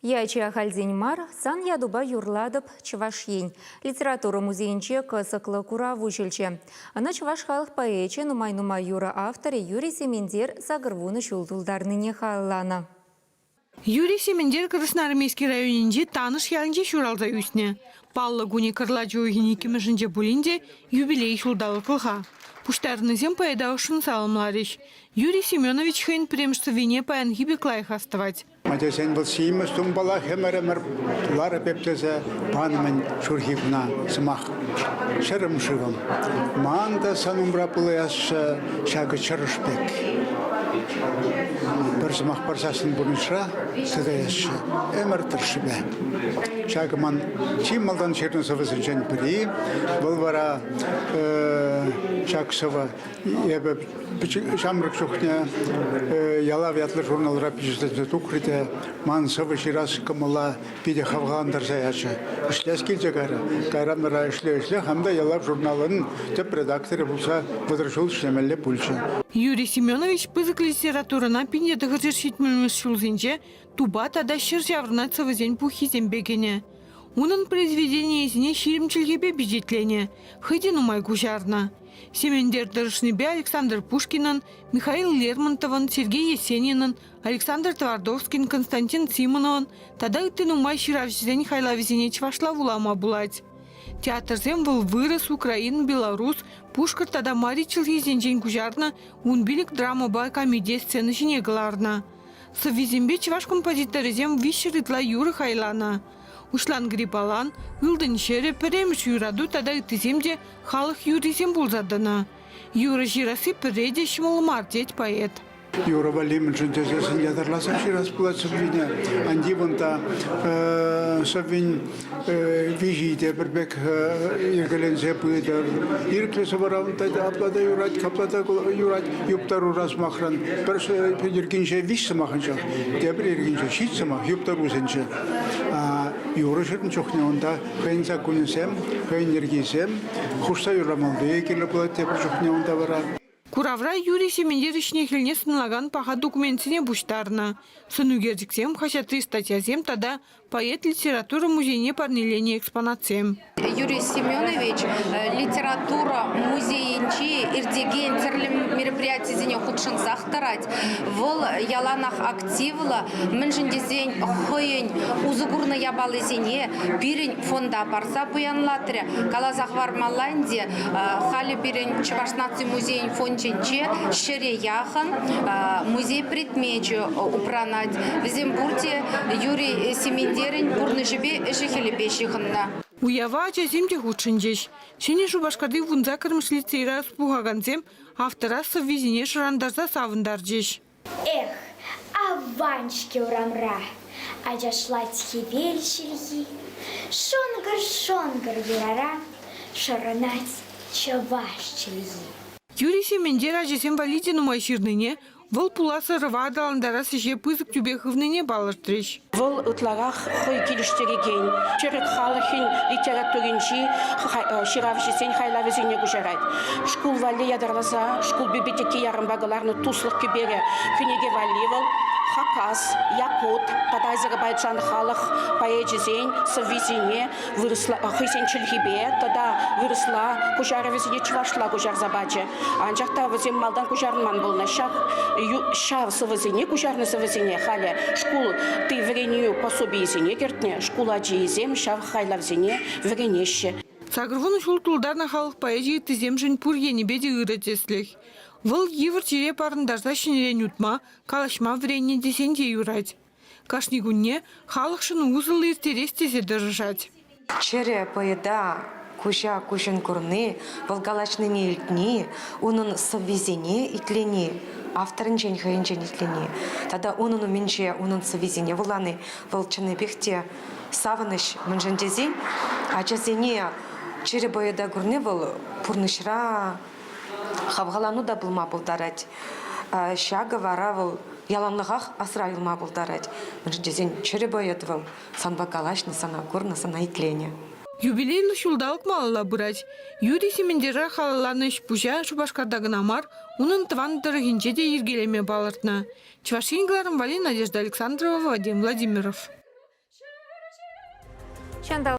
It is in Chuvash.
Ячӗ ахальтен мар. Сан ятупа юрлатӑп Чӑваш Ен литература музейӗнче кӑсӑклӑ курав уҫӑлчӗ. Ӑна чӑваш халӑх поэчӗ, нумай-нумай юрӑ авторӗ Юрий Сементер сакӑр вунӑ ҫул тултарнине халалланӑ. Юрий Сементер Красноармейски районӗнчи Танӑш ялӗнче ҫуралса ӳснӗ. Паллӑ кунӗ кӑрлачӑ уйӑхӗн иккӗмӗшӗнче пулин те юбилей ҫулталӑклӑха. Пуҫтарӑннисем поэта ӑшшӑн саламларӗҫ. Юрий Семенович хӑйӗн пӗрремӗш сӑввине паянхи пек лайӑх астӑвать. Ачасен вӑл симӗс тумпала хӗмӗр-ӗмӗр ларӑ пек тесе панӑ-мӗн ҫурхи куна сӑмах. Чӗрӗм шывӑм, ман та сан умра пулаясчӗ ҫакӑ чӑрӑш пек. Пӗр сӑмах парсассӑн пурнӑҫра сытаясчӗ ӗмӗр тӑршшӗпе. Ҫакӑ ман чи малтан ҫырнӑ сӑвӑсенчен пӗри. Вӑл вара ҫак сӑвӑ Эпӗ ҫамрӑк чухне Ялав ятлӑ журналра пичетленсе тухрӗ те ман сӑвӑ ҫырас кӑмӑла питӗ хавхалантарса ячӗ. Ӗҫлес килчӗ кайра. Кайран-тӑра ӗҫле-ӗҫле хам та Ялав журналӑн тӗп редакторӗ пулса вӑтӑр ҫул ӗҫлемелле пулчӗ. Юрий Семенович пысӑк литературӑна пинше тӑхӑрҫӗр ҫитмӗлмӗш ҫулсенче тупа тата ҫӗр ҫаврӑнать сӑвӑсен пуххисемпе кӗнӗ. Унӑн произведенийӗсене ҫирӗм чӗлхепе пичетленӗ, хӑй те нумай куҫарнӑ. Сементер тӑрӑшнипе Александр Пушкинӑн, Михаил Лермонтовӑн, Сергей Есенинӑн, Александр Твардовскин, Константин Симоновӑн тата ытти нумай ҫыравҫӑсен хайлавӗсене чӑвашла вулама пулать. Театрсем вӑл вырӑс, украин, белорус, пушкӑрт тата мари чӗлхисенчен куҫарнӑ вун пилӗк драмӑпа комедия сцена ҫине кӑларнӑ. Сӑввисемпе чӑваш композиторӗсем виҫҫӗр ытла юрӑ хайланӑ. Уҫлан гриппалан, Ылтӑн ҫӗрӗ, Пӗрремӗш юрату тата ыттисем те халӑх юррисем пулса тӑнӑ. Юрӑ ҫырасси пӗрре те ҫӑмӑл мар, тет поэт. Юрӑ валли мӗншӗн тесессӗн ятарласа ҫырас пулать сӑввине. Ан тив унта сӑввин виҫи те пӗр пек йӗкеленсе пытӑр. Ирӗклӗ сӑвӑра унта апла та юрать, капла та юрать. Юптарура сӑмахран пӗр йӗркинче виҫ сӑмахӑнча, тепӗр йӗркинче ҫит сӑмах юптарусенче. Юрӑҫӑрӑн чухне унта хӑйӗн саккунӗсем, хӑйӗн йӗркисем хушса юрамалли кирлӗ пулать тепӗр чухне унта вара. Куравра Юрий Сементовичне хӗлне сӑнлакан паха документсене пуҫтарнӑ, сӑнӳкерчӗксем, хаҫатри статьясем тата поэт литература музейне парнеленӗ экспонатсем. Юрий Семенович литература музейӗнчи иртекен тӗрлӗ мероприятисене хутшӑнсах тӑрать. Вӑл яланах активлӑ, мӗншӗн тесен хӑйӗн усӑ курнӑ япалисене пирӗн фонда парса пуянлатрӗ. Каласа хӑвармалла ӗнтӗ, Халӗ пирӗн Чӑваш наци музейӗн фондӗнче ҫӗре яхӑн музей предмечӗ упранать. Вӗсем пурте Юрий Сементерӗн пурнӑҫӗпе ӗҫӗ-хӗлӗпе ҫыхӑннӑ. Уява ачасем те хутшӑнчӗҫ. Ҫӗнӗ Шупашкарти вун саккӑрмӗш лицейра пухакансем автора сӑввисене шӑрантарса савӑнтарчӗҫ. Эх, аван-ҫке урамра ачашлать хӗвел ҫилхи. Шӑнкӑр-шӑнкӑр юрара шӑрӑнать чӑваш чӗлхи. Юрий Сементер ачасем валли те нумай ҫырнине, вӑл пулас ӑрӑва аталантарас ӗҫе пысӑк тӳпе хывнине палӑртрӗҫ. Вӑл ытларах хӑй килӗштерекен, тӗрӗк халӑхӗн литературинчи ҫыравҫӑсен хайлавӗсене куҫарать. Шкул валли ятарласа шкул библиотеки ярӑмпа кӑларнӑ Туслӑх кӗперӗ кӗнеке валли вӑл Хакас, Якут тата Азербайджан халӑх поэчӗсен сӑввисене вырӑсла хӑйсен чӗлхипе тата вырӑсла куҫарӑвӗсене чӑвашла куҫарса пачӗ. Анчах та вӗсем малтан куҫарӑнман пулнӑ. Ҫав, ҫав сӑвӑсене куҫарнӑ сӑвӑсене халӗ шкул ти вӗренӳ пособийӗсене кӗртнӗ. Шкул ачийӗсем ҫав хайлавсене вӗренеҫҫӗ. Сакӑр вунӑ ҫул тултарнӑ халӑх поэзи ыттисемшӗн пур енӗпе те ырӑ тӗслӗх. Вӑл йывӑр чире парӑнтарса ҫӗнӗрен утма, калаҫма вӗреннӗ тесен те юрать. Кашни кунне халӑхшӑн усӑллӑ ирттерес тесе тӑрӑшать. Чӗрӗ поэта куҫа-куҫӑн курни, вӑл калаҫнине-илтни, унӑн сӑввисене итлени, авторӗнчен хӑйӗнчен итлени тата унӑн умӗнче унӑн сӑввисене вулани вӑл чӑннипех те савӑнӑҫ. Мӗншӗн тесен ачасене чӗрӗ поэта курни вӑл пурнӑҫра Хавхалану та пулма пултарать. Ҫакӑ вара вӑл яланлӑхах асра юлма пултарать, мӗншӗн тесен чӗрӗ поэт вӑл. Санпа калаҫнӑ, сана курнӑ, сана итленӗ. Юбилейлӑ ҫулталӑк малалла пырать. Юрий Сементера халалланӑ ӗҫ-пуҫа Шупашкарта кӑна мар, унӑн тӑван тӑрӑхӗнче те йӗркелеме палӑртнӑ Чӑваш Ен кӑларӑмпа Надежда Александрова, Вадим Владимиров. Ҫанталӑк